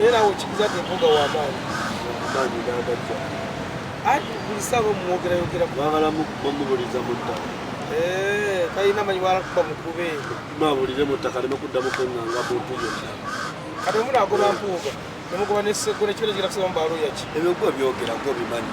Era awo kikiza te mpuga wa maani. Maani nanga jya. Ati buli saa bo mwogera yogera. Bagala mumubuliza mu ttaka. Eee, eh, kayina manyi wala kuba mukube. Mabulire mu ttaka lino kudda mu kwenganga buntu yonna. Kati omuna agoba mpuuga. Nemugoba ne sekure kile kila kusema mbalo yachi. Ebyo kwa byogera kwa bimanyi.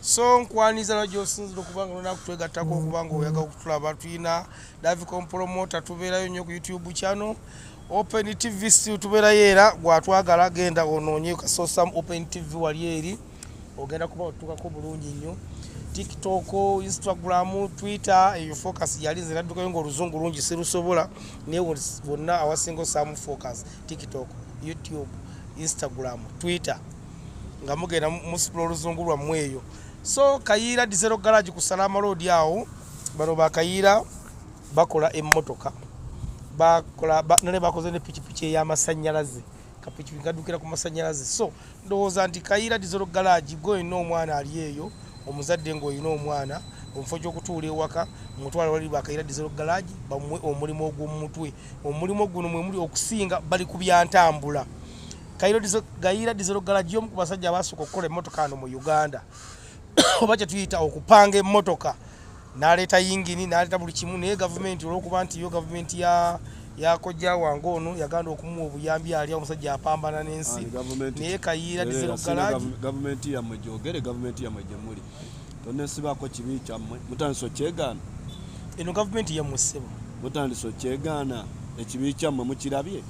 so nkwaniza na gyosinzira okuba nga olina kutwegattako okuba nga oyagala okutulaba tulina davicom promota tubeerayo nnyo ku youtube channel open tv still tubeerayo era gwatwagala genda onoonye kasosam open tv wali eri ogenda kuba otutukako bulungi nnyo tiktok instagram twitter eyo focus yali nze naddukayo ngaoluzungu lungi sirusobola naye wonna awasinga osaamu focus tiktok youtube instagram twitter nga mugenda musitula oluzungu lwammwe eyo so kayiira dizero garage ku salama loodi awo bano bakayiira bakola emmotoka nale bakoze ne pikipiki ey'amasannyalaze kapikipiki kadukira ku masannyalaze so ndowooza nti kayiira dizero garage gwe olina omwana ali eyo omuzadde ng'olina omwana omufo gyokutuula ewaka mutwala wali bakayira dizero galagi bamuwe omulimu ogwomumutwe omulimu guno mwemuli okusinga bali ku byantambula gayiira dizero galagi omu ku basajja abasooka okukola emmotoka ano mu uganda oba kyetuyita okupanga emmotoka naleeta yingini naleeta buli kimu naye gavumenti olwokuba nti yo gavumenti ya yakojja wange ono yaganda okumuwa obuyambi ali omusajja apambana n'ensi naye kayiira dizero galagi gavumenti yamwe gyogere gavumenti yamwe gyemuli tonesibaako kibi kyammwe mutandise okyegaana eno gavumenti yamwe ssebo mutandise okyegaana ekibi kyammwe mukirabye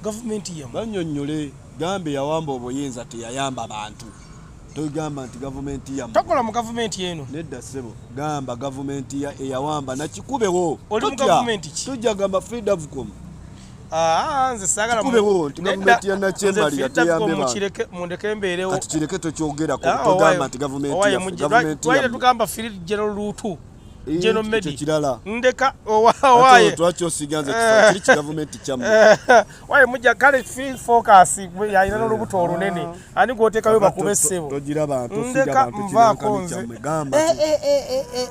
gavumenti yamu banyonyole gambe yawamba obuyinza teyayamba bantu togamba nti gavumenti yamu tokola mu gavumenti eno nedda sebo gamba gavumenti ya eyawamba nakikubewo oli mu gavumenti ki tujja gamba freedavcom ah, nze sagala kubewo nti gavumenti ya nakyemali yateyambe bantu kireke mundeke embeerewo kati kireke tokyogerako ah, togamba nti gavumenti ya gavumenti ya tugamba field general lutu General Medi kirala ndeka owaye twaki osiganze eh. kiri kigavumenti kyamu waye mujja kale fi focus gwe yalina eh. n'olubuto olunene ah. ani gwotekayo bakube ssebo togira bantu ndeka nvaako nze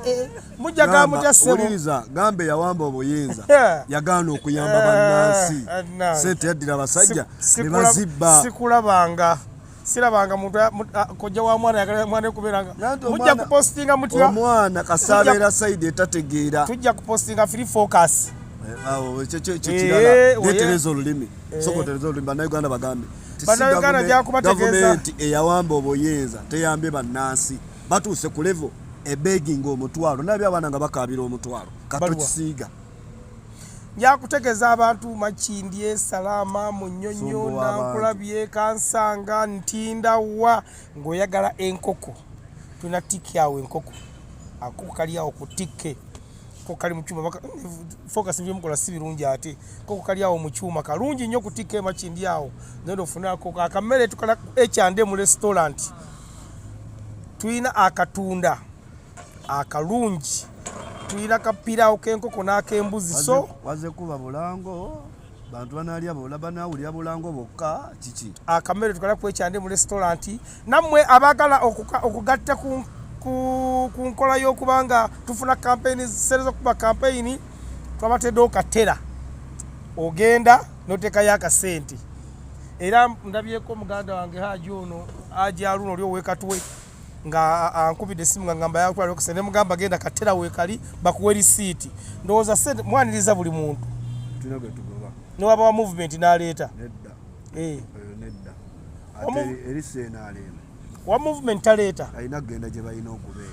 eh, mujja ga mutya ssebo owuliriza gambe yawamba obuyinza yagaana okuyamba bannansi sente yaddira abasajja ne bazibba sikulabanga sirabanga muntu kojja wa mwana yagala mwana kuberanga mujja kupostinga mutya omwana kasabeera side etategeera tujja kupostinga free focus eh, awo ekyo kyo kirala eh, netereza olulimi eh. soko tereza olulimi bannayuganda bagambe bannayuganda gyakubategeeza gavumenti eyawamba obuyinza teyambye bannansi batuuse ku levo ebeginga omutwalo nabyo abaana nga bakaabira omutwalo katukisiiga njakutegeza abantu makindye salaama munyonyo nankulabye kansanga ntinda wa ngaoyagala enkoko tulina tiki awo enkoko akoko kali awo ku tikke koko kali mukyuma focus byemukola si birungi ate koko kali awo mukyuma kalungi nnyo ku tikke makindye awo nenda ofune akoko akamere tukala ekyande mu restaurant tulina akatunda akalungi tuyina kapirawo kenkoko nakembuzi so waze kuba bulango bantu banalya bola banawulira bulango bokka kiki akamere tukala kwekyande mu restaurant namwe abagala okugatta ku ku nkola yokubanga tufuna kampeyini zisereza okuba kampeyini twabateedewo okatera ogenda notekayo akasente era ndabyeko muganda wange haji ono ajaluno oli owekatwe nga ankubidde essimu nga ngamba yakula lokise ne mugamba genda katera weekali bakuwe lisiiti ndowooza sente mwaniriza buli muntu newaba wa movement n'aleeta eh. wa movement taleeta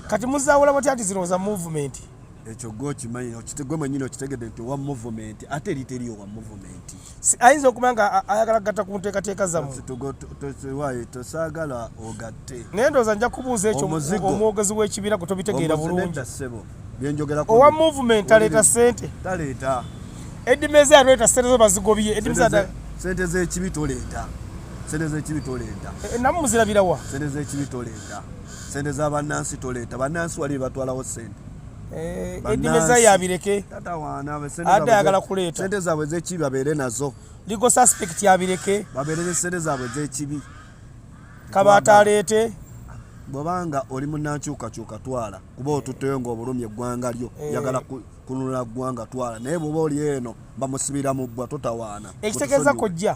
kati muzaawula batya nti zino za movement ekyo gwe okimanyi okitegwe manyini okitegedde nti owa movement ate eri teriyo wa movement ayinza okuba nga ayagala kugata ku nteekateeka zamuwayetosagala ogatte naye ndooza nja kubuuza ekyo omwogezi w'ekibiina gwe tobitegeera bulungi owa movement aleeta sente taleeta edimeza yaleeta sente zo bazigobye edimeza sente z'ekibi toleeta sente z'ekibi toleeta eh, eh, namu muzirabirawa sente z'ekibi toleeta sente za bannansi toleeta bannansi wali batwalawo sente Eh, edimeza yabireke ate ayagala kuleeta sente zaabwe zekibi babeere nazo ligo suspect yabireke babeere ne sente zaabwe zekibi kabaata aleete bwebanga oli munankyukakyuka twala kuba otutteyo ngaobulumi eggwanga lyo eh. yagala kununula ggwanga twala naye bwoba oli eno bamusibira mu bbwa totawaana ekitegeeza kojja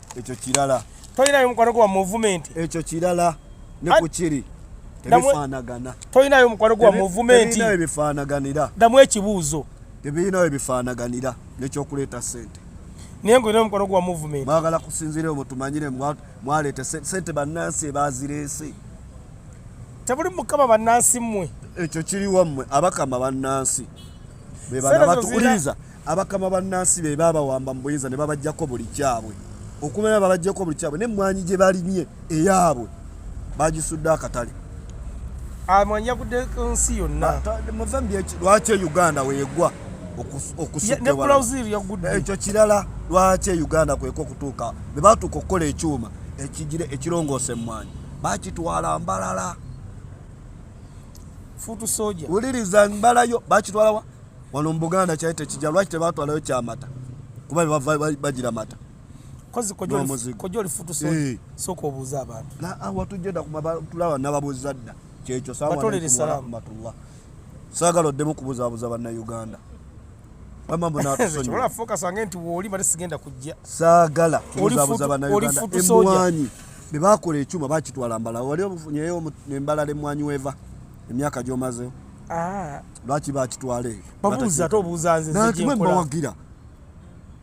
ekyo kirala tolinayo mukwano gwa movement ekyo kirala ne ku kiri tebifaanagana tolinayo mukwano gwa movement ebinayo bifaanaganira damu ekibuuzo tebirinayo bifaanaganira nekyokuleeta sente naye nga olina omukwano gwa movement mwagala kusinzira omwo tumanyire mwaleeta sente bannansi ebazireese tebuli mukama bannansi mmwe ekyo kiri wammwe abakama bannansi bebanabatuuliriza abakama bannansi be baabawamba mu buyinza ne babajjako buli kyabwe okumanya babajjako buli kyabwe nemmwanyi gye balimye eyaabwe bagisudde akatale amwanyi yagudde nsi yonna lwaki e uganda weyegwa okusuekyo eh, kirala lwaki e uganda kweka okutuuka be batuuka okukola ekyuma ekigire ekirongoosa emmwanyi bakitwala mbalala futu soja wuliriza mbalayo bakitwalawa wano mu buganda kyali tekija lwaki tebatwalayo kyamata kuba bava bagira mata kozi olifutusa eh. sooka obuuza abantu ah, watujeda kumatulaba nababuuza dda kyekyo sawarahmatullah saagala oddemu kubuzabuza bannauganda wamambunatusoolafokasange nti wooli bali sigenda kujja saagala kubuzabuza bannauganda emwanyi bebakola ekyuma bakitwala mbala wali ofunyeyo embala lemwanyi weva emyaka gyomaze ah. lwaki bakitwala eyo babuuza ate obuuza nze nzebawagira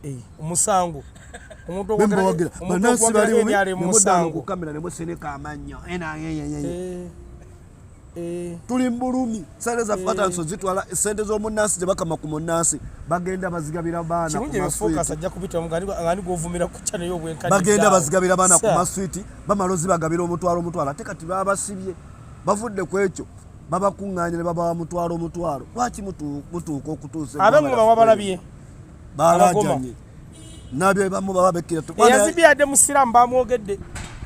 eh, omusango omuntubawagira banansi balimukamera nemuseneka amanyo eh, eh. tuli mubulumi sente zaffe batanso zitwala sente zomunansi zebakama ku munansi bagenda bazigabira baanabagenda bazigabira baana ku maswiti bamala ozibagabira omutwalo omutwalo ate kati babasibye bavudde ku ekyo babakuŋŋaanya ne babawa mutwalo mutwalo lwaki mutuuka okutuusa abemu bawa balabye balaajanye nabye bamu baba bekkira eyazibye yadde musiraamu bamwogedde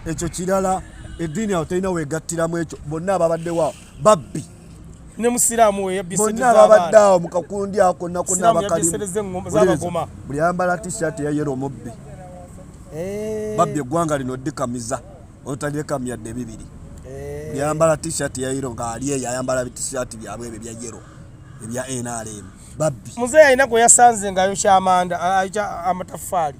ekyo kirala eddiini awo terina weegattiramu ekyo bonna ababaddewo awo babbi ne musiraamu we yabbisebonna ababadde awo mu kakundi ako nakona bakalimu buli ayambala t-shirt ya yero omubbi eh. babbi eggwanga lino ddikamiza otalyekam yadde bibiri eh. yambala t-shirt ya yero ng'ali eyo ayambala t-shirt byabwe ebyo bya yero ebya nrm babbi muzeeyi alina gwe yasanze nga ayokya amanda ayokya amataffaali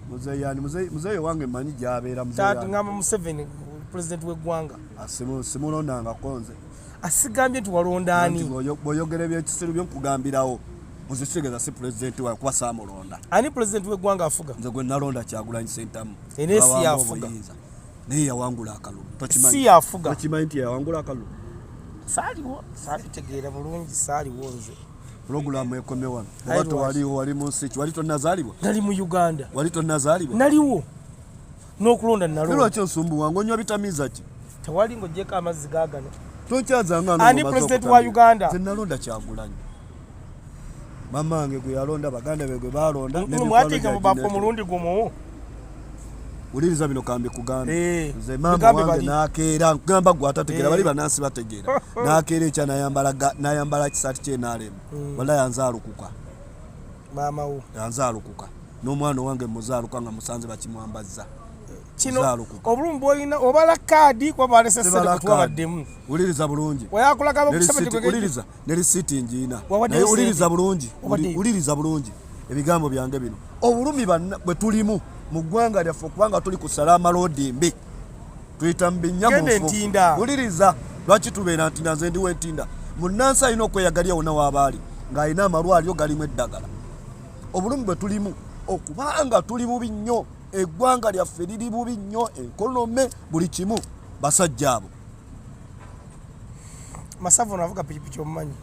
muzeeyi yani muzeeyi wange manyi gyabeera ngamba museveni pulezidenti w'eggwanga ah, simulondangako nze asigambye ah, nti walondaani bwoyogera ebyekisiru byokugambirawo muzisigeza si pulezidenti wakuba saamulonda ani pulezidenti w'eggwanga afuga nze gwe nalonda kyagulanyi sentamu era esi yafuga naye yawangula akalulu si yafuga tokimanyi nti yawangula akalulu saaliwo saabitegeera bulungi saaliwo nze pulogulaamu ekome wano oba tewaliwo wali mu nsi ki wali tonnazaalibwa nali mu uganda wali tonnazaalibwa naliwo n'okulonda nalolwaki osumbuwa ngaonywa bitamiiza ki tewali ng'ogyeko amazzi gaagano tokyazangaani pulezidenti wa uganda zenalonda kyagulanyi mama wange gwe yalonda baganda be gwe balonda mwatiika mu bafu omulundi gumu ulinza bino kambi kugamba eh, nze maama wange nakeera nkugamba gwe atategeera eh. bali banansi bategeera nakeera ekya nayambala kisaati kyenalemu hmm. wala yanzaalukuka maamawo yanzaalukuka n'omwana owange muzaaluka nga musanze bakimwambazza kino obulumi bwolina obala kaadi kuba balesesere kutubabaddemu wuliriza bulungi weyakulaga bakusabewuliriza ne lisiiti ngiina naye wuliriza bulungi wuliriza bulungi ebigambo byange bino obulumi bwe tulimu mu ggwanga lyaffe okubanga tuli ku salaama loodi mbi tuyita mu binyamufu wuliriza lwaki tubeera ntinda nze ndiwo entinda munnansi alina okweyagalya wona waabaali ng'alina amalwaliro galimu eddagala obulumi bwe tulimu okubanga tuli bubi nnyo eggwanga lyaffe liri bubi nnyo enkonome buli kimu basajja abo masavu ono avuga pikipiki omumanyi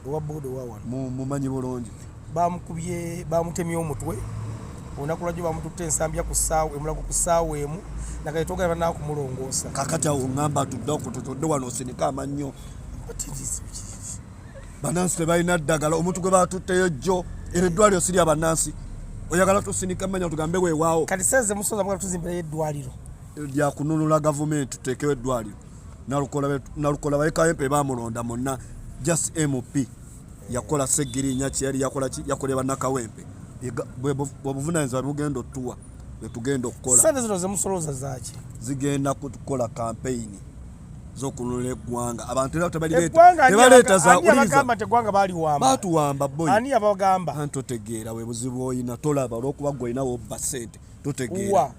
owa boda owawano mumanyi bulungi bamukubye bamutemye omutwe olunaku lwajjo bamututte ensambya ku saawa emulago ku saawa emu nagaye togala banaa kumulongoosa kakati awo ngamba tudde okututudde wano osinika amannyo banansi tebalina ddagala omuntu gwe batutteyo jjo era eddwaliro sirya banansi oyagala tusinika manya tugambe wewaawo kati seze musoza mugala tuzimbirayo eddwaliro lya kununula gavumenti tuteekewo eddwaliro nalukola bayekayempe bamulonda munna just mp yakola segirinya kyeyali yakola ki yakolera bannakawempe bwebuvunanyizibwa bugenda otuwa bwetugenda okukola sente zino zemusolooza zaki zigenda kukola kampeyini zokununula eggwanga abantu era tebaleeta zaulizabatuwamba boani yabagamba anti otegeera webuzibu olina tolaba olwokuba gwe olina wobba sente totegeera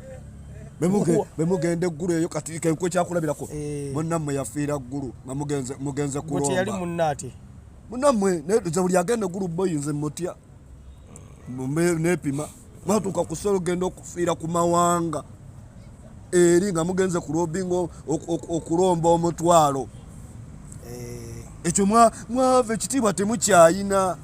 bemugenda eggulu eyo kati kenkwe kyakulabirako eh. munammwe yafiira ggulu nga mugenze kulombayali munaate munammwe nze buli agenda eggulu boyinze mutya nepima mwatuuka kusolo genda okufiira ku mawanga eri nga mugenze kulobinga okulomba omutwalo eh. ekyo mwava ekitiibwa temukyayina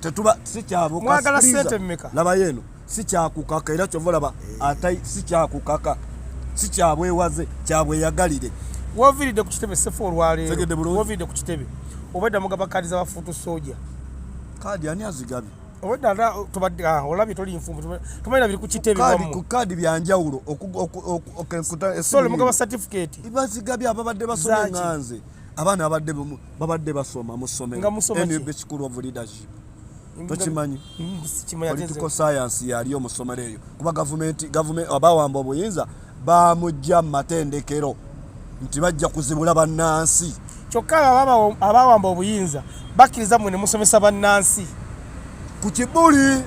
tetuba sikyabukmwagala sente mmeka labayo eno sikyakukaka era kyova olaba eh. atai sikyakukaka sikyabwewaze kyabweyagalire woviridde ku kitebe sefu olwaleerowoviridde ku kitebe obwedda mugaba kaadi za bafuutu soja kaadi ani azigabye obwedda ata tubadde ah, olabye toli nfumbu tumalira biri ku kitebe ku kaadi byanjawulo okukutaaso mugaba satifikeeti bazigabye ababadde basoma enganze abaana babadde babadde basoma mu ssomero school of leadership tokimanyi political science yaliyo mu ssomero eyo kuba gavumenti gavumenti abawamba obuyinza bamujja mu matendekero nti bajja kuzibula bannansi kyokka abawamba obuyinza bakkiriza mwe ne musomesa bannansi ku kibuli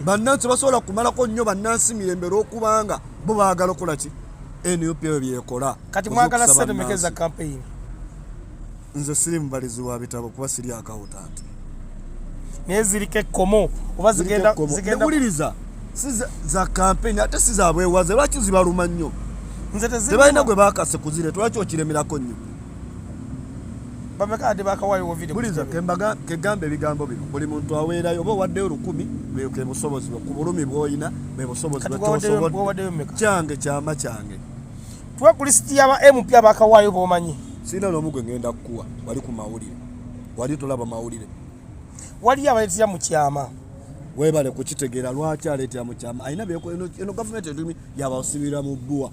bannansi basobola kumalako nnyo bannansi mirembe lwokubanga bo baagala okola ki nup ebyo byekola kati mwagala sente meka eza campaign nze siri mubalizi wa bitabo kuba siri akawutanti naye ziriko ekkomo oba zigendawuliriza si za campaign ate si zabwewaze lwaki zibaluma nnyo tebalina gwe bakase kuzire twaki okiremerako nnyo bameka ate bakawaayo video buliza kembaga kegamba ebigambo bino buli muntu aweerayo oba owaddeyo lukumi bweke busobozi bwe ku bulumi bw'olina bwe busobozi bwetosobodde kyange kyama kyange tuwe ku lisiti yaba mp abakawaayo bomanyi sirina n'omu gwe ngenda kukuwa wali ku mawulire wali tolaba mawulire waliyo abaleetera mu kyama webale kukitegeera lwaki aleetera mu kyama alina eno gavumenti etumi yabasibira mu bbuwa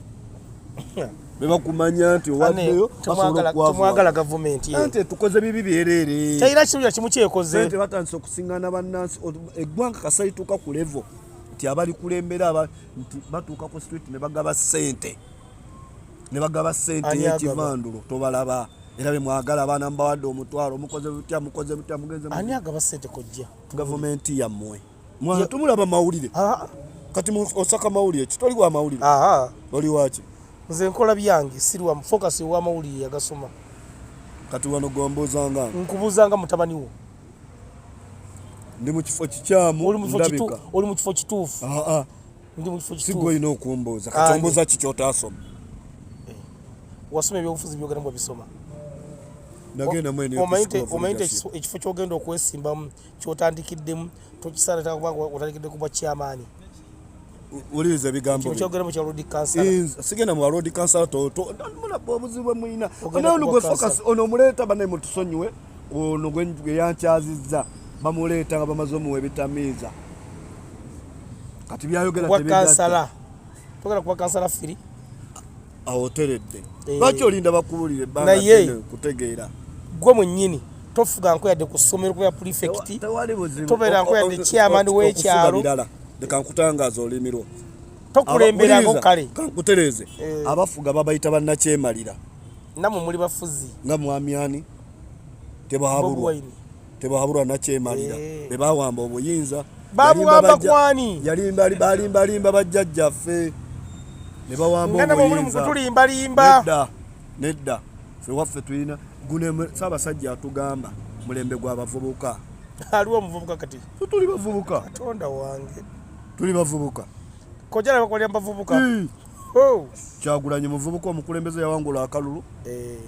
bebakumanya nti owaddeyo tumwagala gavumenti nti tukoze bibi byereere tayina kiruya kimu kyekoze nti batandise okusingana bannansi eggwanga kasalituuka ku levo nti abalikulembera aba nti batuuka ku street ne bagaba ssente ne bagaba ssente yekivandulo tobalaba era bemwagala abaana mubawadde omutwalo mukoze butya mukoze butya mugenze ani agaba ssente kojja gavumenti yammwe Mwana tumulaba mawulire. Ah. Kati mu osaka mawulire kitoli wa mawulire. Aha. Oli wachi. Nze nkola byange sirwa focus wa mawulire yagasoma. Kati wano gomboza nga. Nkubuza nga mutabani wo. Ndi mu kifo kikyamu. Oli mu kifo kitufu. Oli mu kifo kitufu. Ah ah. Ndi mu kifo kitufu. Sigwe ino kumboza. Kati ah, omboza kicho tasoma. Eh. Wasome byofuzi byogera mbo bisoma. Nagenda mwene. Omaite omaite ekifo kyogenda okwesimbamu. kyotandikiddemu tokisaanataka kuba otandikidde kubwa kyamaani wuliriza ebigambokyogeramu kya lodi kansala eh, sigenda mu lodi kansala tomulaba obuzibu bwe mulina onaonu gwe focus ono omuleeta banaye mutusonyiwe ono gwe yankyazizza bamuleeta nga bamaze omuwa ebitamiiza kati byayogera kansala togera kuba kansala firi awo oteredde eh. lwaki olinda bakubulire ebbanga kutegeera gwe mwennyini tofuga nko yadde ku ssomero kubera pulifekiti tobeera nko yadde chairman w'ekyalo leka nkutangaaza olimirwa tokulemberako kale kankutereeze eh. abafuga babayita bannakyemalira namwe muli bafuzi nga mwamyani tebahabulwa tebahabulwa nakyemalira eh. bebawamba obuyinza babuwamba kwani yalimbalimbalimba bajjajjaffe nebawambaobutulimbalimba nedda nedda fewaffe tulina gune saabasajja atugamba mulembe gwabavubuka aliwo omuvubuka kati tuli bavubuka katonda wange tuli bavubuka kojala bakolera bavubuka oh. kyagulanyi muvubuka omukulembeze yawangula akalulu eh.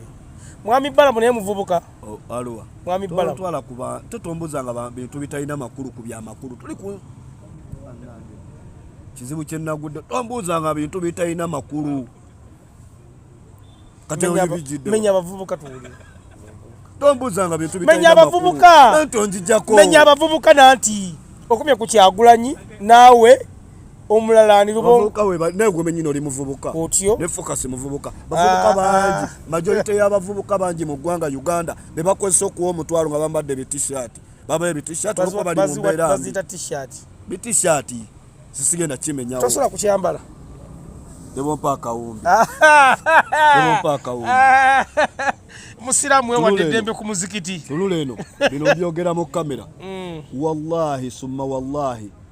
mwami balamu naye muvubuka Oh, Alwa. Mwami Balamu. Twala kuba totomboza nga bintu bitalina makulu ku bya makulu. Tuli ku kizibu kye nagudde tombuuza nga bintu bitalina makulu menya abavubuka tuwulire tombuuza nga bintu menya abavubuka nanti onjijako menya abavubuka nanti okumye ku kyagulanyi naawe omulala ani lubomuvubuka we naye gwe menyine oli muvubuka otyo ne focus muvubuka bavubuka ah, bangi ah. majority ya bavubuka bangi mu gwanga Uganda be bakozesa okuwa omutwalo nga bambadde bi t-shirt baba ebi t-shirt luko bali mu mbera bazita t-shirt bi t-shirt sisige na chime nyawo tosola kuchambala debo mpaka umbi debo mpaka umbi musiramu wewadde eddembe ku muzikiti tulule eno bino byogera mu kamera mm. wallahi summa wallahi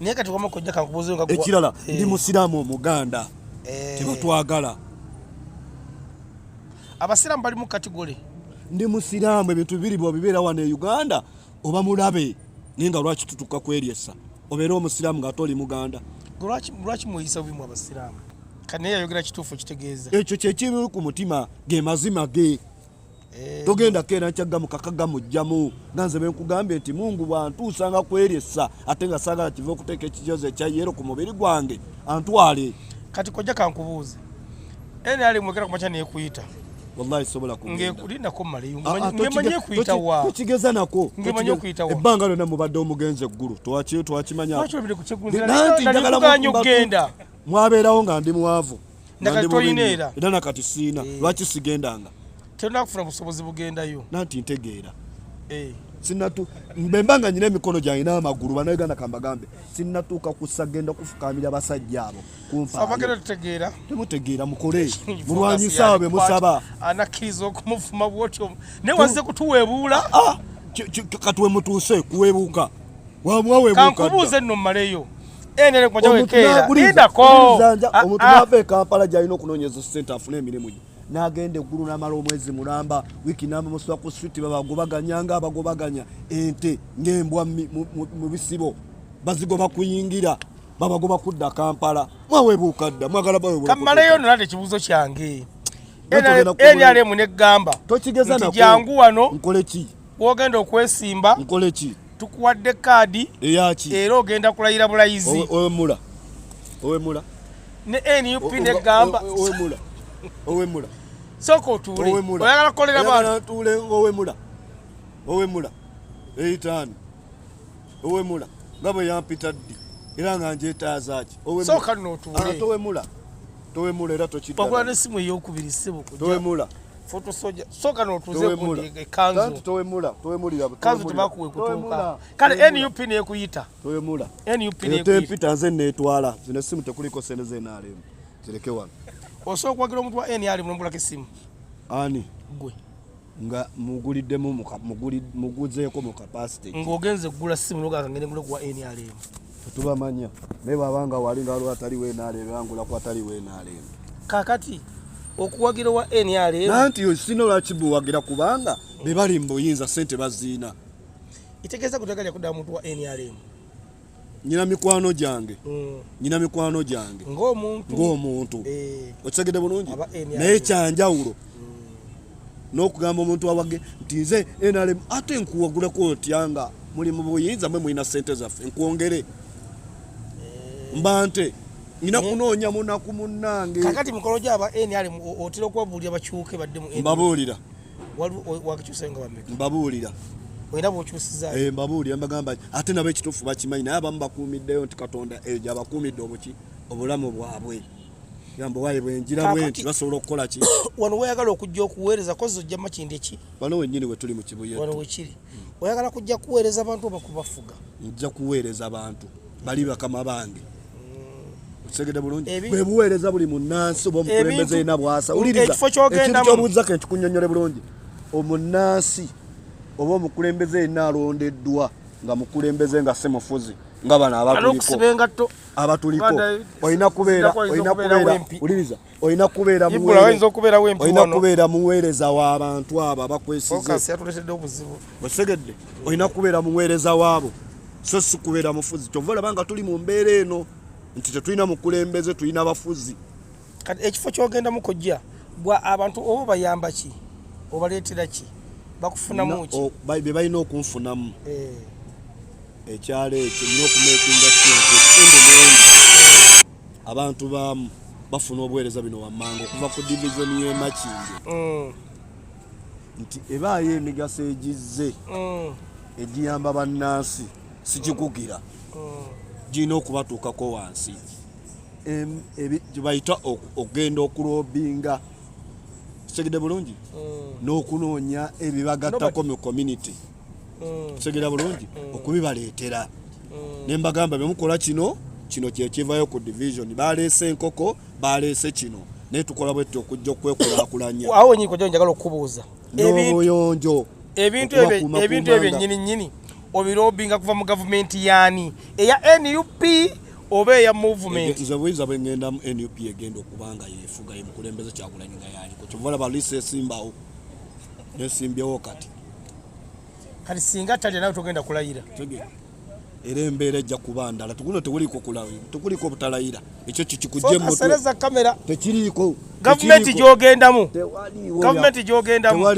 naye kati wama kojja kankubuze nga ekirala eh. ndi musiramu omuganda eh. tebatwagala abasiramu bali mu kategole ndi musiramu ebintu bibiri bwabibeera wano e uganda oba mulabe naye nga lwaki tutuka kweryesa obeera omusiramu nga ate oli muganda lwaki mweyisa bubi mu abasiramu kanaye yayogera kituufu kitegeeza ekyo kyekiri ku mutima ge mazima ge Eh. togenda keera nkyagamu kakagamu jjamu nga nze benkugambye nti mungu bwantuusa nga kweryessa ate nga saagala kiva okuteeka ekijozi ekyayeero ku mubiri gwange antwale kati kojja kankubuuze nali mwekera kumakya nekuyita wallahi sobola kungendakulindako maleyomanyi okuyita wakigeza nako ngemanyi okuyita wa ebbanga lyonna mubadde omugenzi eggulu twakimanya nanti njagala mwabeerawo nga ndi mwavu nakati tolina era era nakati siina eh. lwaki sigendanga tolina kufuna busobozi bugendayo nanti ntegeera eh. sinatu mbemba nga nyina emikono gyange n'amagulu banauganda kambagambe sinatuuka kusagenda kufukamira basajja abo kumpabagenda tutegeera temutegeera mukole mulwanyisa abo bemusaba anakkiriza okumufuma bwotyo naye wazze kutuweebuula ah, ah. katuwemutuuse kuweebuuka wamuwaweebuuka kankubuuze nno mmaleyo endele kumaja wekera ida ko omutunabe ah, ah. kampala jaino kunonyezo center afune emirimu gye nagenda eggulu namala omwezi mulamba wiki namba musula ku street babagobaganya nga abagobaganya ente ngembwa mu bisibo bazigoba kuyingira babagoba kudda kampala mwawebuuka dda mwagala bawekamaleyo nolate ekibuuzo kyange nrm negamba tokigeza njangu wano nkoleki wogenda okwesimba nkole ki tukuwadde kaadi eyaki era ogenda kulayira bulayizi owemula owemula ne nup negamba owemula owemula sooka otuule oyagala kukolera baatuule owemula owemula eitaano owemula nga bwe yampita ddi era nga njetaazaki owemula towemula era tokiddaogula nesimu eyokubiri sebo towemula Foto soja. Soka no tuze kundi e kanzu. Kanzu towe mula. Towe muli yabo. Kanzu tubakuwe kutuka. Kale NUP ne kuyita. Towe mula. NUP ne kuyita. NUP tanze ne twala. Zine simu tekuliko sene ze na alemu. Zileke wana. Oso kwa kilo mtu wa N alimu mbula kisimu. Ani. Gwe. Nga muguli demo muguli muguzeko mu capacity. Ngogenze gula simu noga kangene gula kwa N alimu. tetubamanya naye bwaba nga wali nga lwatali wenaleero yangula kwatali wenaleero kakati okuwagira wa nrm nanti osina lwaki buwagira kubanga bebali mubuyinza sente baziina itegeeza kutaka lyakuda muntu wa nrm nyina mikwano gyange mm. nyina mikwano gyange ng'omuntu ng'omuntu eh. okitegede bulungi naye kyanjawulo n'okugamba omuntu awage nti nze nrm ate nkuwagulako otya nga muli mu buyinza mwe mulina sente zaffe nkwongere eh. mba nte ngina eh. kunoonya munaku munnange kakati mukolo gyaba nrm otera okubabuulira bakyuke badde mu mbabuulira wakikyusayo nga bameka mbabuulira era bwokyusiza eh, mbabuulira mbagamba ate nabo ekituufu bakimanyi naye abamu bakuumiddeyo nti katonda eyo gyabakuumidde obuki obulamu bwabwe Gambo waye bwenjira bwenti basobola okukola ki? Wano wayagala okujja okuweereza kozo ojja makinde ki? Wano wenyini we tuli mu kibuye. Wano wekiri. Hmm. Oyagala kujja kuweereza abantu oba kubafuga? Nja kuweereza abantu. Bali bakama bange. Hmm. Otegede bulungi. Bwe buweereza buli munnansi oba omukulembeze ina bwasa. Uliriza. Ekifo kyogenda. Ekintu kyobuuza ke ntukunyonyole bulungi. Omunnansi oba omukulembeze ina alondeddwa nga mukulembeze nga semufuzi nga bana abakuliko. Alokusibenga to abatuliko olina kubeera olina kubeera uliriza olina kubeera olina kubeera muweereza w'abantu abo abakwesizeosegedde olina kubeera muweereza w'abo so si kubeera mufuzi kyova olaba nga tuli mu mbeera eno nti tetulina mukulembeze tulina bafuzi kati ekifo kyogendamu kojja gwa abantu oba bayamba ki obaleetera ki bakufunamu ki bye balina okunfunamu eh. ekyalo ekyo nina okumekinga abantu baamu bafuna obuweereza bino wammanga okuva ku divizoni y'emakindi mm. nti ebaayo emigaso egizze mm. egiyamba bannansi sikikugira mm. girina okubatuukako wansi gyebayita okugenda okulobinga kitegede bulungi n'okunoonya ebibagattako mu community mm. segera bulungi mm. okubibaleetera mm. ne mbagamba bemukola kino kino kyekivayo ku division baleese enkoko baleese kino naye tukola bwetti okujja okwekulakulanya awo nyiko jo njagala okubuuza n'obuyonjo ebintu ebintu ebyo nyini nyini obirobinga kuva mu gavumenti yani eya nup oba eya movement nze buyinza bwe ngenda mu nup egenda okubanga yefuga yemukulembeze kyakulanyinga yaliko kyovala balisa esimbawo nesimbyewo kati kati singa talya nawe togenda kulayira era embeera ejja kuba ndala tukuno tekuliiko kulayira tekuliiko obutalayira ekyo kikikujje musereza kamera tekiriiko gavumenti gyogendamu gavumenti gyogendamu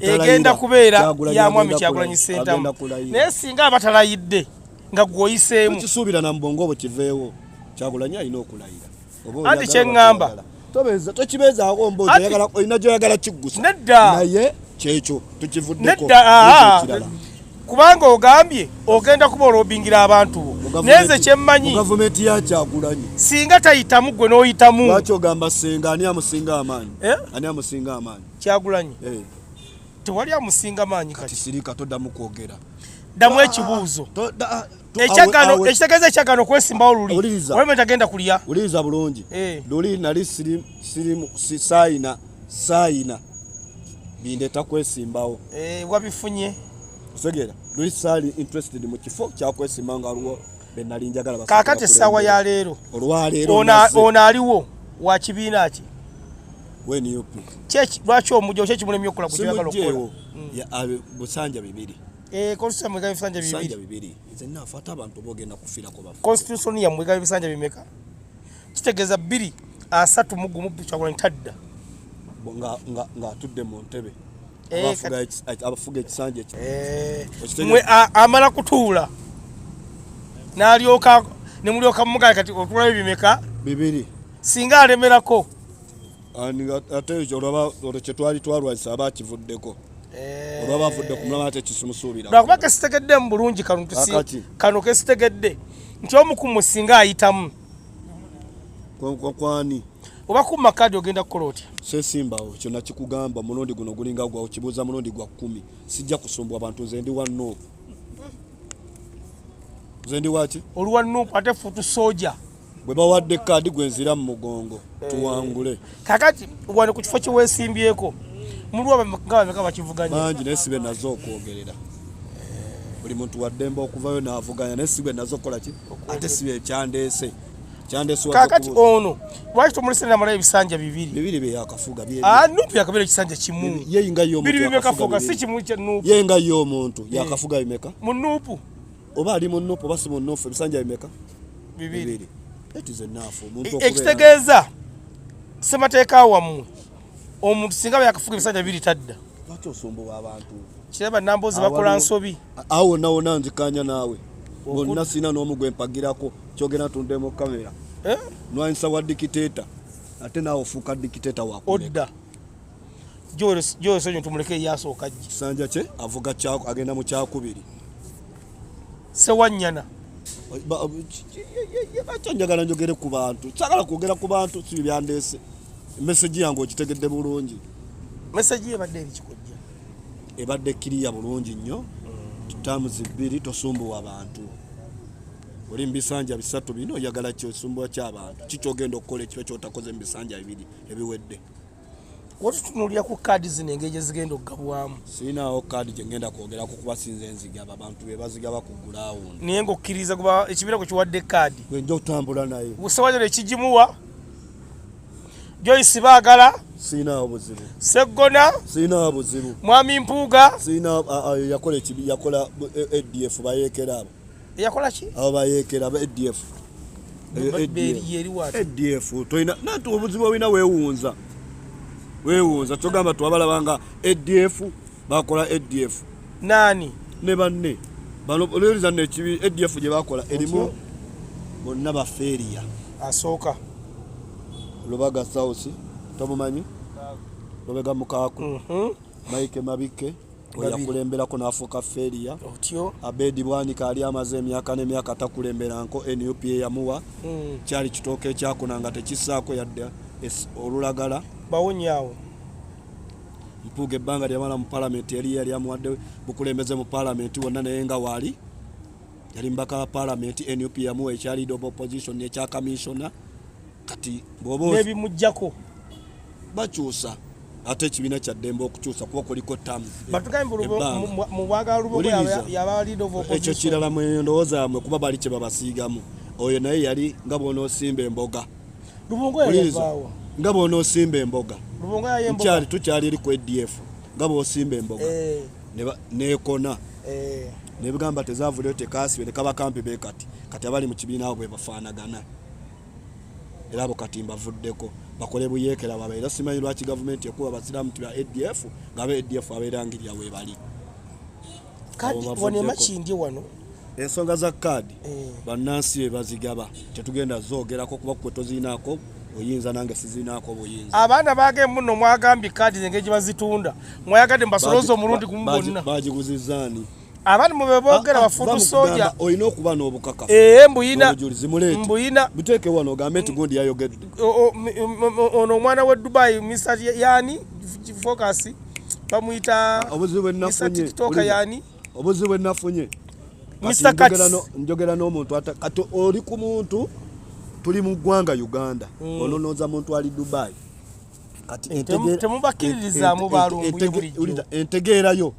egenda kubeera ya mwami kyagulanyi sentamu naye singa abatalayidde nga gwoyiseemu kisuubira na mubongo obwo kiveewo kyagulanyi alina okulayira anti kyeŋŋamba tokibeezaako mbozi olina gyoyagala kiggusa naye kyekyo tukivuddeko ah, ah. kubanga ogambye ogenda kuba olobingira abantu bo nenze kyemmanyi gavumenti yakyagulanyi singa tayitamu gwe n'oyitamu lwaki ogamba senga ani amusinga amaanyi eh? ani amusinga amaanyi kyagulanyi eh. tewali amusinga maanyi kati sirika toddamu kwogera ddamu ekibuuzo ah, ekyagano ekitegeeza ekyagano okwesimbawo luli olwemwe tagenda kulya wuliriza bulungi eh. luli nali sayina sayina bindeta kwesimbawo eh, wabifunye osegera luli sali interested mu kifo kyakwesimba nga aliwo benali njagala kakati essaawa ya leero olwaleero ono aliwo wa kibiina ki lwaki omujja kyekimulemye okukola gwekyagala okukola hmm. busanja bibiri Eh, constitution yamwe ebisanja bibiri bibiri nze nafa ate abantu bogenda kufirako bafu constitution yamwe ega ebisanja bimeka kitegeeza bbiri asatu mu gumu kyakulani tadda nga nga nga atudde mu ntebe eh, abafuga ekisanja ekyo eh, mwe amala kutuula n'alyoka ne mulyoka mumugale kati otulayo bimeka bibiri singa alemerako ate olaba olwo kyetwali twalwanyisa aba akivuddeko eh. olwa bavudde ku mulama ate kisimusuubira lwakuba kesitegeddemu bulungi kano kano kesitegedde nti omu ku musinga ayitamu kwani oba kuma kadi ogenda kukola otya sesimbawo kyona kikugamba mulundi guno gulinga gwawo kibuuza mulundi gwa kumi sijja kusumbwa bantu nze ndi wa nup nze ndi waki oli wa nup ate futu soja bwe bawadde kaadi gwe nzira mu mugongo eh. tuwangule kakati wano ku kifo kyewesimbyeko mulwabameka bakivuganya bangi naye sibe nazo okwogerera buli muntu waddembe okuvayo navuganya naye sibe nazo okukola ki ate sibe kyandeese kakati ono lwaki tomulese namalayo ebisanja bibiribyakafuganubyakabeera ah, ekisanja kimubiri bimekafuga si kimu kya nupu yenga ye omuntu yakafuga bimeka mu nupu oba ali mu nupu oba si mu nufu ebisanja bimeka bibiri ekitegeeza e, ssemateeka wammwe omuntu singa yakafuga ebisanja bibiri tadda kiraba namboozi bakola nsobi awo wonna wonna nzikanya naawe bonna sirina n'omu gwe mpagirako kyogera tunde mu kamera eh? nwanyisa wa dikiteeta ate naawe ofuuka dikiteeta wakuodda Joel Sonyo tumuleke yasooka jje. Kisanja kye avuga kyako agenda mu kyakubiri. Sewanyana. Bakyo njagala njogere ku bantu. Sagala kwogera ku bantu si byandeese. Message yange okitegedde bulungi. Message ebadde ebikikojja. Ebadde kiriya bulungi nnyo. Mm. Tamu zibiri tosumbuwa abantu. Oli mbisanja bisatu bino oyagala kyo sumbuwa ky'abantu. Kikyogenda okukola ekyo kyotakoze mbisanja bibiri ebiwedde. watutunulira ku kaadi zino engeri gyezigenda okugabwamu sirinawo kaadi gyengenda kwogerako kuba sinze nzigaba abantu bebazigaba ku gulawundi naye ngaokkiriza kuba ekibiina kwe kiwadde kaadi gwenja okutambula naye usewanyana ekigimuwa joyce baagala sirinawo buzibu seggona sirinawo buzibu mwami mpuuga sirina yakola yakola adf e, bayeekera abo eyakola ki abo bayekera ba adf adf tolina nati obuzibu olina wewunza wewunza kyogamba twabalabanga adf bakola adf nani ne banne balowoleza nekibi adf gye bakola erimu bonna bafeeriya asooka lubaga sausi tomumanyi lubega mukaaku mhm. maike mabikke yakulemberako n'afuuka feria otyo abedi bwanika ali amaze emyaka n'emyaka takulemberanko nup eyamuwa hmm. kyali kitooka ekyakuna nga tekisaako yadde olulagala bawonyaawo mpuuga ebbanga lyamala mu palamenti eri yali amuwadde bukulembeze mu palamenti wonna naye nga waali yali mubaka wa palamenti nup yamuwa ekyalido of opposition ekyakaminsona kati bwoba nebimujjako bakyusa ate ekibiina kya ddembe okukyusa kuba kuliko ekyo kirala mendowooza mwe kuba bali kye babasiigamu oyo naye yali nga bwonoosimba emboga nga bwonoosimba emboga kyali tukyali eri ku adf nga bwosimba emboga eh. nekona eh. nebigamba tezavuleo tekasibe nekabakampi bekati kati abali mu kibiina abo bwebafaanagana era abo kati mbavuddeko bakole buyeekera baba era simanyi lwaki gavumenti ekuba basiraamu ti ba adf nga aba adf abeerangirira weebali wanemakindi wano ensonga za kaadi eh. bannansi be bazigaba tetugenda zoogerako kuba kwe tozirinaako oyinza nange sizinaako buyinza abaana baage muno mwagambye kaadi zenge gye bazitunda mwayagadde mbasolooza omulundi gumu bonna bagiguzizaani abantu mwe bebogera ah, ah, bafudu soja oyina okuba nobukaka ee mbuyina mbuyina buteke wano ogambe nti gundi yayogedde ono omwana we dubai misa yani focus bamuyita ah, tiktoka yani obuzibu enafunye njogera n'omuntu kati oli ku muntu tuli mu ggwanga uganda mm. ononoza muntu ali dubai temubakkiririzaamu balumbuye entegeera yo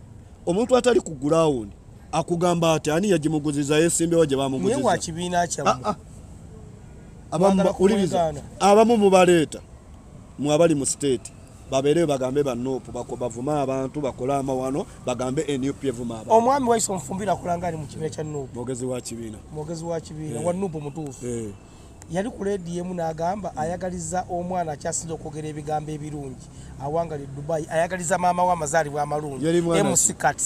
omuntu atali ku gulawundi akugamba ati ani yagimuguziza yesimbewo gye bamuguzizaawuliriza ah, ah. abamu mubaleeta mwe abali mu siteeti babeereyo bagambe banupu bavume abantu bakole amawano bagambe nup evuma abantu omwami waise omufumbira akulanga ali mu kibiina kya nup mwogezi wa kibiina mwogezi wa kibiina eh. wa nup mutuufu eh. yali ku leediyo emu n'agamba ayagaliza omwana akyasinza okwogera ebigambo ebirungi awangali dubai ayagaliza maama we amazaalibwa amalungi mc cats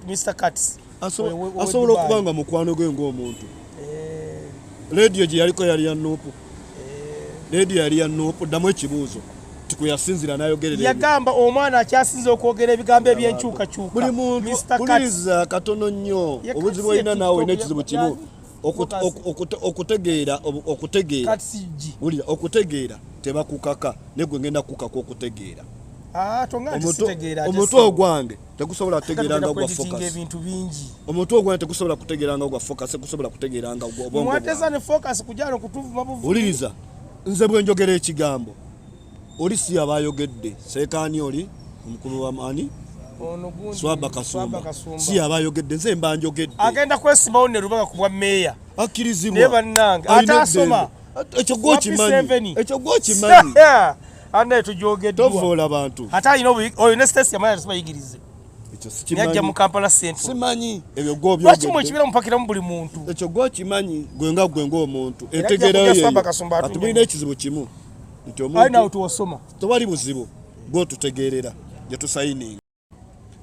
mr cats asobola okuba nga mukwano gwe ngaomuntu eh. leediyo gye yaliko yali ya nuupu eh. leediyo yali ya nuupu ddamu ekibuuzo tikuyasinzira nayogerera yagamba omwana akyasinza okwogera ebigambo ebyenkyukakyuka buli muntu buliriza katono nnyo obuzibu olina naawe nekizibu kimu okutegeera okutegeera wulira okutegeera tebakukaka negwe ngenda kukaka okutegeera ah, omutwe ogwange tegusobola kutegeera nga gwa focus omutwe ogwange tegusobola kutegeera nga gwa focus tegusobola kutegeera nga gwa obongo wuliriza nze bwenjogera ekigambo Oli si yaba ayogedde seekaani oli omukulu wa maani swaba kasumba si yaba ayogedde nze mba njogedde agenda kwesimawo ne lubaga ku bwa meeya akkirizibwa naye bannange ate asoma ekyo gwokimanyi ekyo gwokimanyi anaye tujogedwa tovoola bantu ate alina oyo ne sitesi yamanya tusibayigirize yajja mu kampala centralsimanyi ebyo gwolwaki mwekibeera mupakiramu buli muntu ekyo gwokimanyi gwe nga gwe ngaomuntu entegerayo atubulina ekizibu kimu nti omuntutewali buzibu gwotutegeerera gyetusayininga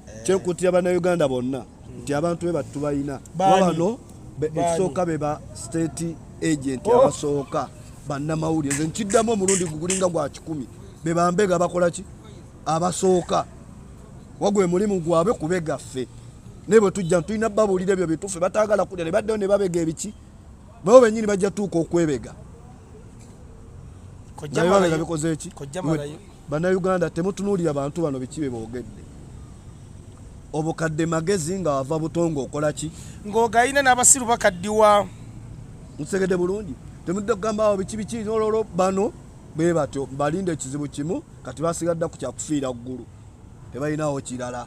eh. kyenkutira bannayuganda bonna nti abantu be battu balina wabano ekisooka be ba state agent oh. abasooka bannamawulire nze nkiddamu omulundi gugulinga gwa kikumi be bambega bakola ki abasooka wagwe mulimu gwabwe kubegaffe naye bwe tujja tulina babuulira ebyo bituufe batagala kulya ne baddeyo ne babega ebiki babo benyini bajja tuuka okwebega babega bikoze ki bannayuganda temutunuulira bantu bano biki be boogedde obukadde magezi nga wava buto ngaokola ki ng'ogayina n'abasiru bakaddiwa mutegedde bulungi temudde kugamba awo biki biki nololo bano bwe batyo balinda ekizibu kimu kati basigadda ku kyakufiira ggulu tebalinawo kirala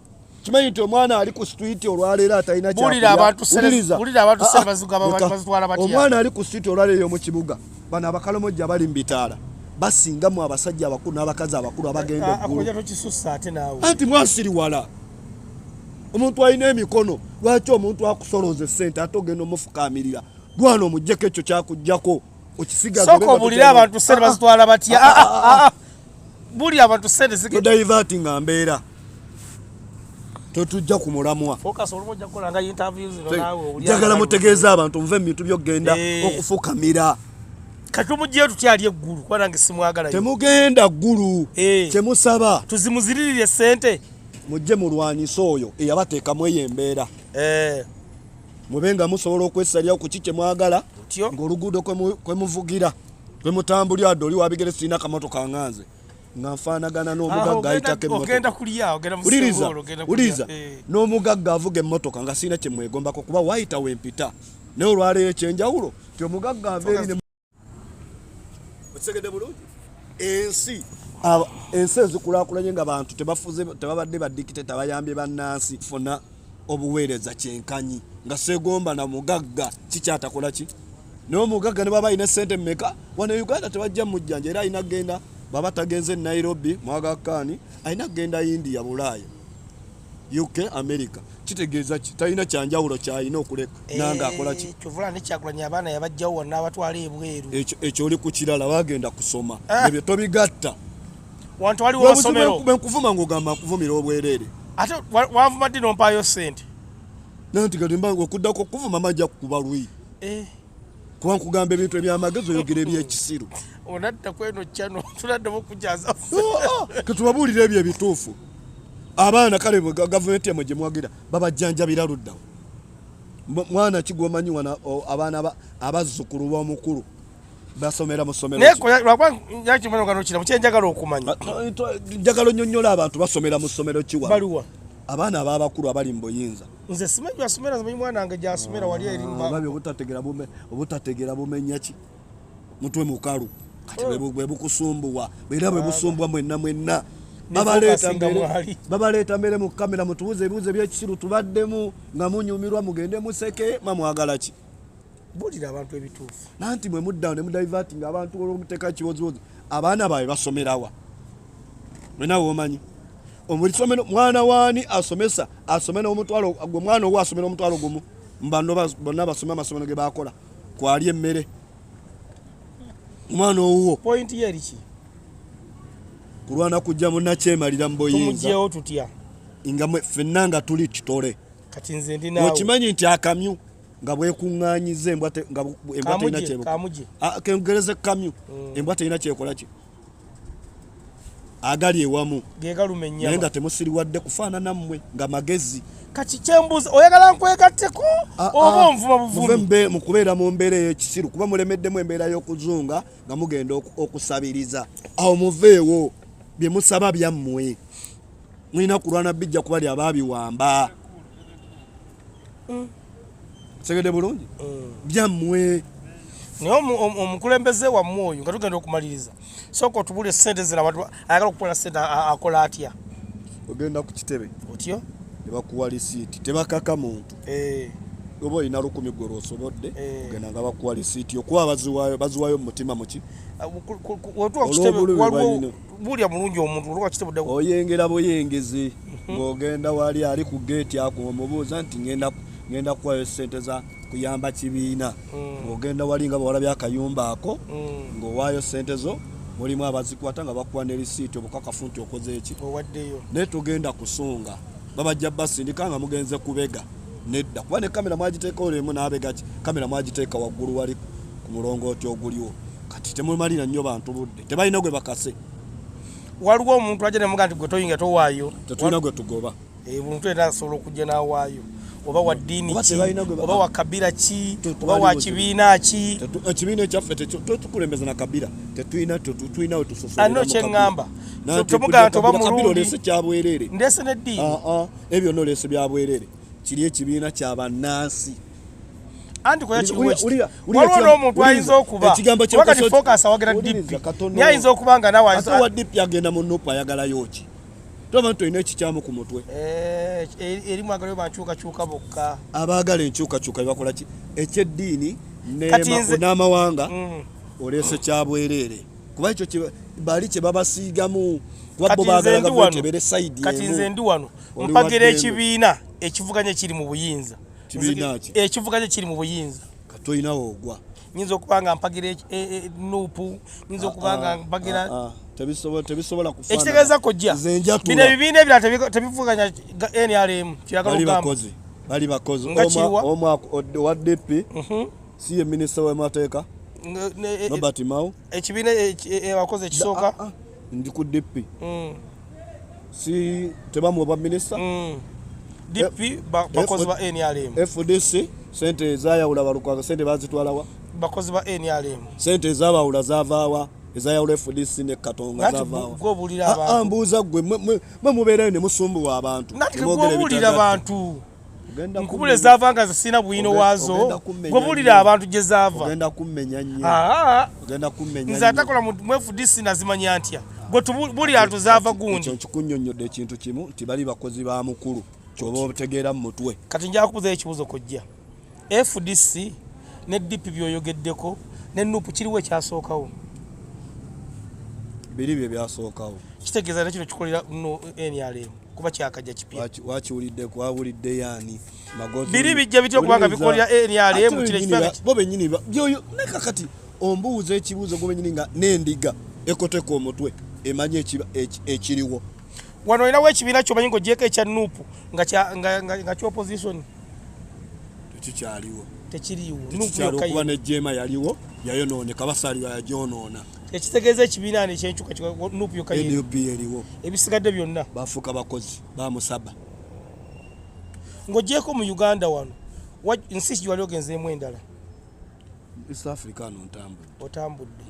kimanyi nti omwana ali ku street olwaleero atalina kyakulyaomwana ali ku street olwaleero omu kibuga bano abakalomojja bali mu bitaala basinga mu abasajja abakulu n'abakazi abakulu abagenda ah, egguluanti mwasiriwala omuntu alina emikono lwaki omuntu akusoloza esente ate ogenda omufukaamirira gwana omujjeko ekyo kyakujjako okisigaobulire abantu sente bazitwala batya ah, ah, buli abantu sente zige to divert nga mbera to tujja ku mulamwa focus olumo jja kola nga interviews no nawe uli jagala mutegeza abantu mve mitu byo genda hey. Eh. okufuka mira katumu je tutya ali eggulu kwa nange simwagala temugenda ggulu hey. Eh. temusaba tuzimuzirire sente mujje mulwanyiso oyo eyabateka mweye mbera eh hey. mube nga musobola okwesalirawo ku ki kye mwagala ng'oluguudo kwe muvugira kwe mutambulira dde oli wabigere sirina kamoto kanganze nga nfaanagana n'omugagga ayitako emmotokauliriza eh. n'omugagga avuga emmotoka nga sirina kye mwegombako kuba wayitawo empita naye olwaleero ekyenjawulo ti omugagga aveeri okitegedde bulungi ensi ensi ezikulakulanye nga bantu tebafuze tebabadde badikite tabayambye bannansi funa obuweereza kyenkanyi nga segomba na mugagga kikyatakola ki naye omugagga ne baba alina sente mumeka wano e uganda tebajja mujjanja era alina kugenda baba tagenze nairobi mwagakkaani alina kugenda india bulaaya UK America kitegeeza ki talina kyanjawulo kyalina okuleka eh, nanga akola ki kyovula ne kyakulanya abaana yabajjawo wonna abatwala ebweru ekyo ekyo oli ku kirala bagenda kusoma ah. ebyo tobigatta wantu wali wasomero bwe nkuvuma ng'ogamba nkuvumira obwereere ate wanvuma ddi nompaayo ssente nanti kati mba okuddako okuvuma majja kukuba lwi eh. kuba nkugamba ebintu ebyamagezi oyogera ebyekisiru onadda kweno kyano tunaddamu okujaza ketubabuulira ebyo ebituufu abaana kale gavumenti yamwe gye mwagira babajjanjabira luddawo mwana kigwomanyi wana abaana abazzukulu b'omukulu basomera musomerokyenjagala okumanya njagala onyonyola abantu basomera mu ssomero kiwa abaana ababakulu abali mu buyinza nze simanyi gyasomera nzimanyi mwana wange gyasomera wali eribabi ah, obutategera bumenya ki mutwe mukalu kati oh. bwebukusumbuwa era bwebusumbuwa ah. mwenna mwenna babaleeta mbere mu kamera mutubuuze ebibuuzo ebyekisiru tubaddemu nga munyumirwa mugende museke mamwagala ki bulira abantu ebituufu nanti mwe muddawo ne mudiverting abantu olwomuteeka kibozibozi abaana baabwe basomerawa mwena womanyi omulisomero mwana waani asomesa asome nomutwalo gwe mwana owo asomera omutwalo gumu mbano bonna basome amasomero ge bakola kwali emmere omwana owuwo pointi ye eriki kulwana kujja munakyemalira mu buyinzatumugyewo tutya nga fenna nga tuli kitole kati nze ndi nawe okimanyi nti akamyu nga bwekuŋŋaanyiza embwa terina kyekengereze kamyu mm. embwa terina kyekola ki agali ewamu naye nga temusiriwadde kufaanana mmwe nga magezi kati kyembuuza oyagala nkwegatteko ah, ah. oba onvuma buvumi mu kubeera mu mbeera ey'ekisiru kuba mulemeddemu embeera y'okuzunga nga mugenda okusabiriza awo muveewo bye musaba byammwe mulina kulwana bijja kuba lyabaabiwamba mm. segede bulungi mm. byammwe naye omukulembeze wammwe oyo nga tugenda okumaliriza sooka otubule sente zira abantu ayagala okukola sente akola atya ogenda ku kitebe otyo nebakuwa lisiiti tebakaka muntu eh. oba olina lukumi gwe lwosobodde eh. ogenda nga bakuwa lisiiti okuba baziwayo baziwayo mumutima muki ah, bulya bulungi omuntu olwa kitabo dawo oyengera boyengezi mhm. ngogenda wali ali ku gate ako omubuuza nti ngenda ngenda kuwayo sente za kuyamba kibiina mm. ngogenda wali nga bawala byakayumba ako mm. ngowaayo sente zo mulimu abazikwata nga bakuwa ne lisiiti obukakafu nti okoze eki owaddeyo naye tugenda kusunga babajja basindika nga mugenze kubega nedda kuba ne kamera mwagiteeka olemu n'abega ki kamera mwagiteeka waggulu wali ku mulongooti oguliwo kati temumalira nnyo bantu budde tebalina gwe bakase waliwo omuntu ajja nemuga nti gwe toyinga towaayo tetulina gwe tugoba eh, omuntu era asobola okujja n'awaayo oba wa ddiini ki oba wa kabira ki oba wa kibiina ki ekibiina eh, ekyaffe tetukulembeza na kabira tetulina tetulina we tusosoano kyeŋŋamba tomugamba nti oba mulungi oleese kyabwereere ndeese ne ddiini ah, ah. ebyo byonna oleese byabwereere kiri ekibiina kya bannansi anti koya kiriwo waliwo n'omuntu ayinza okuba wakati focus awagera dp naye ayinza okuba nga nawe ate wa dp agenda mu nupu ayagalayo ki tolaba nti olina ekikyamu ku mutwe eh, eh, erimu agalayo bankyukakyuka bokka abaagala enkyukakyuka bebakola ki ekyeddiini n'amawanga mm. oleese kyabwereere kuba ekyo bali kye babasiigamu wabbo baagala gavumenti ebeere sayidi emu kati nze ndi wano mpagira ekibiina ekivuganya ekiri mu buyinza ekivuga kye kiri mu buyinza tolinawo ogwa nyinza okuba nga mpagira e, e, e, nuupu nyinza ah, okuba nga ah, mpagira ah, ekitegeeza kojja bino ebibiina ebirala tebivuganya nrm kiragalaogambaali bakozi omwaka owa dp mhm. si ye minisita w'amateeka robert mao ekibiina abakozi ekisooka ndi ku dp mm. si tebamuwa bwa minisita mm. dp eh, bakozi ba nrm fdc sente ezayawula balukwaga sente bazitwalawa bakozi ba nrm sente ezabawula zavaawa ezayawula fdc ne katonga zavaawa ah, ah, mbuuza gwe mwe mubeerayo ne musumbuwa abantu nkubula ezaava nga zisina bwino waazo gwebulira abantu gye zaava nze atakola mwefudisi nazimanya ntya gwetubulira ntu zaava gundi nkikunyonyodde ekintu kimu nti bali bakozi ba mukulu kyoba otegeera mu mutwe kati njakubuzayo ekibuzo kojja fdc ne dp byoyogeddeko ne nupu kiriwo ekyasookawo biri bye byasookawo kitegeeza nekino kikolera nrm kuba kyakajja kipya wakiwulidde kwawulidde yani magozi biri bijja bityo kubanga bikolera eriale eh, mu kile kipya bo benyini byoyo neka kati ombuuza ekibuuzo gwe benyini nga nendiga ekoteka omutwe emanye ekiba ekiriwo wano olina wo ekibiina kyomanyi nga ogyeko ekya nupu nga kya opposition tekikyaliwo tekiriwo nupu yokka yaliwo yayonooneka basaaliwa yagyonoona ekitegeeza ekibiina ano ekyenkyukanup eriwo ebisigadde byonna bafuuka bakozi bamusaba ng'ogyeko mu uganda wano nsi ki wali ogenzeemu endala east africa ano ntambudde otambudde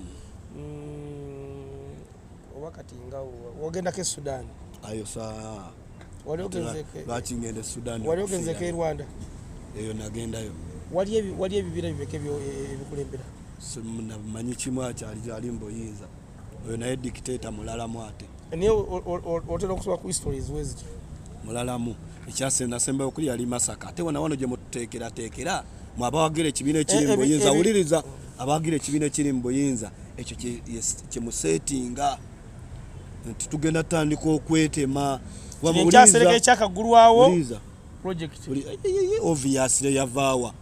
mm, oba kati nga wagendako e sudan ayo saa lwaki ngenda e sudan wali ogenzeko e rwanda eyo nagendayo wali ebibira bibeke e, ebikulembera namanyi kimu akyali gyali mbuyinza oyo naye dictator mulalamu ate naye otera okusobola ku history eziweziti mulalamu ekyasendasembayo okuli yali masaka ate wona wano gyemututeekerateekera mwe abawagira ekibiina ekiri eh, eh, mubuyinza eh, wuliriza abawagira ekibiina ekiri mubuyinza ekyo kyemusetinga nti tugenda tutandika okwetema ekyasereka ekyakagulwawo oviasire yavaawa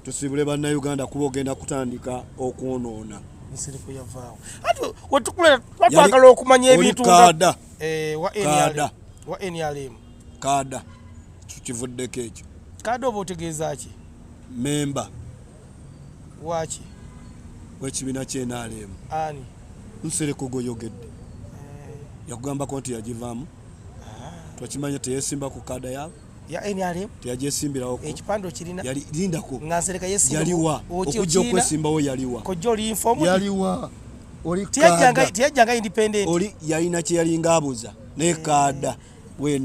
tusiibule bannayuganda kuba ogenda kutandika okwonoona twagala okumanya ebintu eh, wa nrm kaada kivuddeko ekyo kaada oba otegeeza ki memba waki wekibiina kyenalemu ani nsereko goyogedde eh. yakugambako nti yagivaamu ah. twakimanya teyesimba ku kada yabo teyagyesimbirawoekipande okirinayalindakoyaliwa okujja okwesimbawo yaliwa yaliwa teyajjanga independent yalina kyeyalinga abuza naye kada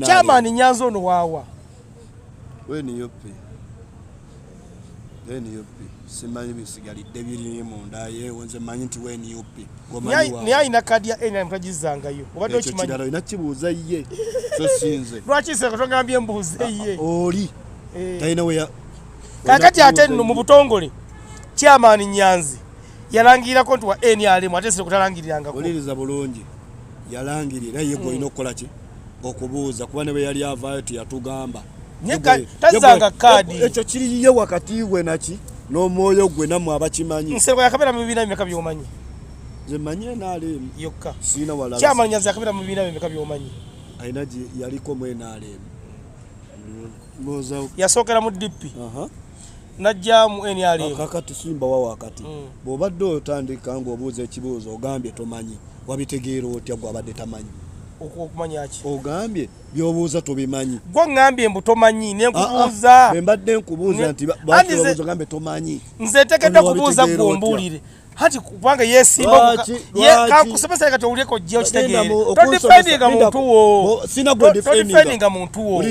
Chairman Nyanza ono wawa. We ni yopi. We ni yopi. Simanyi bisigalidde biri mu nda ye wonze manyi nti we ni yopi. Ni ayina kadi ya ena mtajizanga yo. Obadde okimanyi. Ekyo kiralo inakibuuza ye. So sinze. Lwaki se katongambye mbuuze ah, ye. Oli. Eh. Tayina we ya. Kakati ate mu butongole. Chairman Nyanzi. yalangirako nti wa nrm ate sire kutalangirirangako oliriza bulungi yalangirira ye gwolina hmm. okukola ki okubuuza kuba ne bwe yali avaayo teyatugamba tazanga kaadi ekyo kiriye wakati we naki n'omwoyo gwe namwe abakimanyi nseko yakabeera mu bibiina bimeka byomanyi zemanyi nrm yokka siina wala kyamanya zakabeera mu bibiina bimeka byomanyi alina yaliko mu nrm yasookera mu dp najjamu nrmkakatusimba wa wakati mm. bwobadde otandika ngaobuuza ekibuuzo ogambye tomanyi wabitegeera otya gwabadde tamanyi okumanyaki ogambye byobuuza tobimanyi gwe ngambye mbu tomanyi nenkubuuza ah, ah. mbadde nkubuuza nti gambye tomanyi nze ntekedde kubuuza gwe ombuulire hati kubanga yesimba kakusomesa kati owulire kojja okitegeere todifendinga muntu wo todifendinga muntu wo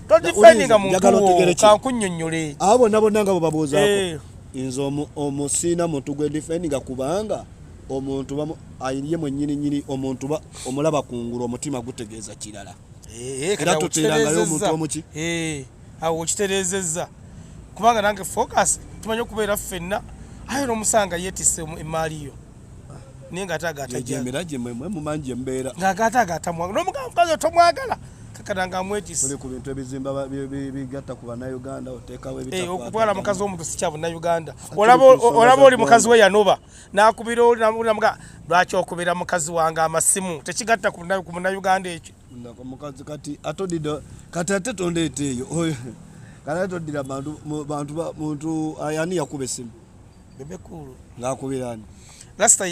todifendinga muntu wo kankunyonyole abo bonna bonna nga bwebabuuzaako eh. nze omusiina muntu gwe difendinga kubanga omuntu ye mwenyini nyini omuntu omulaba kungulu omutima gutegeeza kirala eh, eh, era tuteerangayo omuntu omuki awo okitereezezza kubanga nange focus tumanyi okubeera ffenna aye nomusanga yetise emaali yo naye nga atagatamukazi tomwagala kakananga amwetiseokutwala eh, mukazi womuntu sikya bunauganda olaba oli mukazi we yanoba nakubira oli namuga lwaki okubira mukazi wange amasimu tekigatta ku munauganda ekyo nako mukazi kati atodida kati ate tondeeta eyo kati ate todira bantu bantu muntu ayani yakuba esimu bebekulu ngakubira ani lasta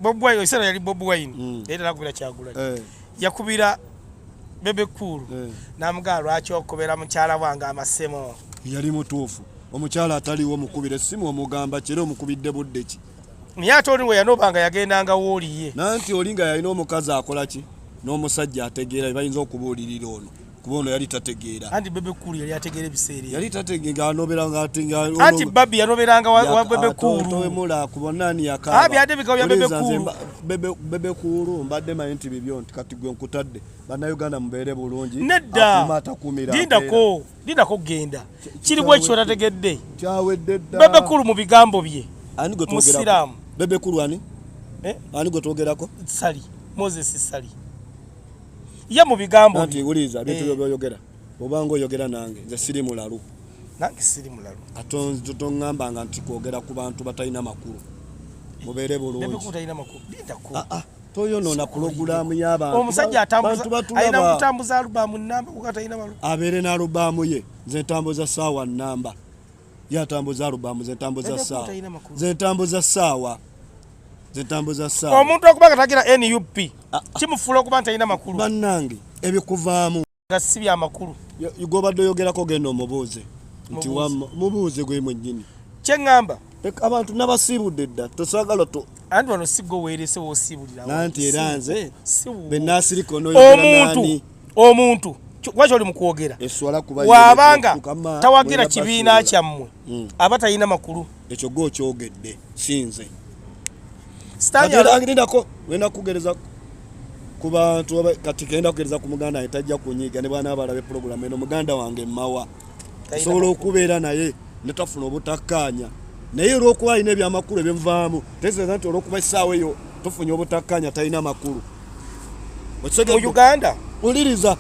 bob wine oisana yali bob wine mm. era nakubira kyagula eh. yakubira bebekulu eh. namugaa lwaki okubera mukyala wange amasemo yali mutuufu omukyala ataliwo omukubira esimu omugamba kira omukubidde budde ki naye ate oli weyanoba nga yagendanga wooliye nanti oli nga yalina omukazi akola ki n'omusajja ategeera bebayinza okubuulirira ono kuba ono yali tategeera anti bebe kuulu yali ategeera ebiseera yali tategeera anoberanga anti babi yanoberanga wa bebe kuuluwemula kuba nani yakabyadebikawo ya bebe kuulu bebe kuulu mbadde manyi nti bibyo nti kati gwe nkutadde bannayuganda mubeere bulungi nedda atakumira dindako linako kugenda kiri bwekyo tategedde bebe kulu mu bigambo bye musiraamu bebe kulu ani eh? ani gwe twogerako sali moses sali ye mu bigambo nti wuliza bintu eh. byoyogera obanga oyogera nange nze siri mulalu nange siri mulalu ate tongambanga nti kwogera ku bantu batalina makulu mubeere bulungi ah, ah. toyonoona pulogulaamu y'abantu omusajja alina kutambuza alubaamu namba kuba talina balu abeere n'alubaamu ye nze ntambuza saawa namba ye atambuza alubaamu nze ntambuza saawa nze ntambuza saawa nze ntambuza saawa omuntu okuba nga tagira nup ah, ah. kimufuula okuba nti talina makulu bannange ebikuvaamu nga si bya makulu gwobadde oyogerako genda omubuuze nti mubuuze gwe mwennyini kye ŋŋamba abantu nabasiibudde dda tosagala to anti wano sigga oweerese wosiibuliraanti era nze benasirika omuntu omuntu lwaki oli mukwogera wabanga tawagira kibiina kyammwe hmm. aba talina makulu ekyo gwe okyogedde si nze agendako wenda kugereza ku bantu kati genda kugereza ku muganda wange tajja kunyiiga ne bwana abalabe pulogulamu eno muganda wange mmawa osobola okubeera naye netafuna obutakkaanya naye olwokuba alina ebyamakulu ebivaamu tegeeza nti olwokuba essaawa eyo tufunye obutakkaanya talina makulu uganda uliriza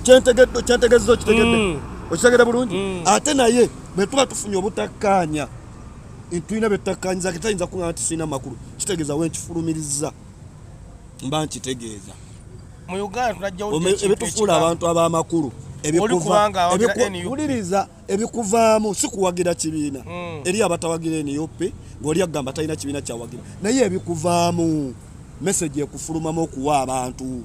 kyentegedde okitegeedde mm. okitegedde bulungi mm. ate naye bwe tuba tufunye obutakkaanya tulina byetutakkaanyiza ke tayinza kuŋaa nti sirina makulu kitegeeza wenkifulumiriza mba nkitegeeza ebitufuula abantu ab'amakulu wuliriza ebikuvaamu si kuwagira kibiina hmm. eri abatawagira nup ngaoli akugamba talina kibiina kyawagira naye ebikuvaamu meseji ekufulumamu okuwa abantu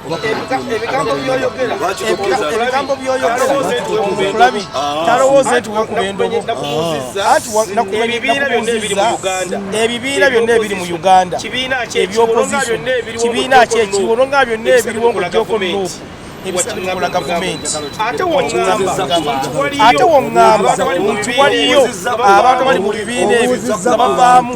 ebigambo byoyogera ebigambo byoyogera talowooza nti wakuba endobo ebibiina byonna ebiri mu uganda ebibiina byonna ebiri mu uganda ebyopoziso kibiina kyekiwo olonga byonna ebiriwo mu gyokonoku ebisaula gavumenti ate wongamba nti waliyo abantu bali mu bibiina ebyo nga bavaamu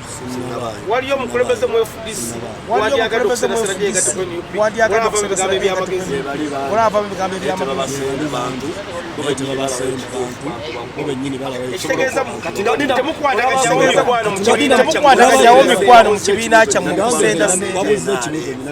waliyo omukulembeze mu fdc wandyagala okuserasera gyegateko nup olaba mu bigambo ebyamagezi olaba mu bigambo ebyamagezi temukwatagajawo mikwano mu kibiina kyammwe okusendasenda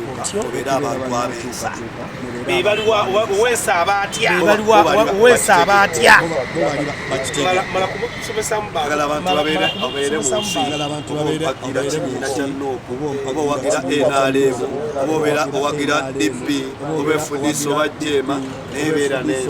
obeera abantu abeesa bebaliwa weesa abatya weesa abatya agala abantu babeere obeere mu nsi obawagira kibiina kya nooku oba owagira nrm oba obeera owagira dp oba efudisi oba jeema naye beera nensi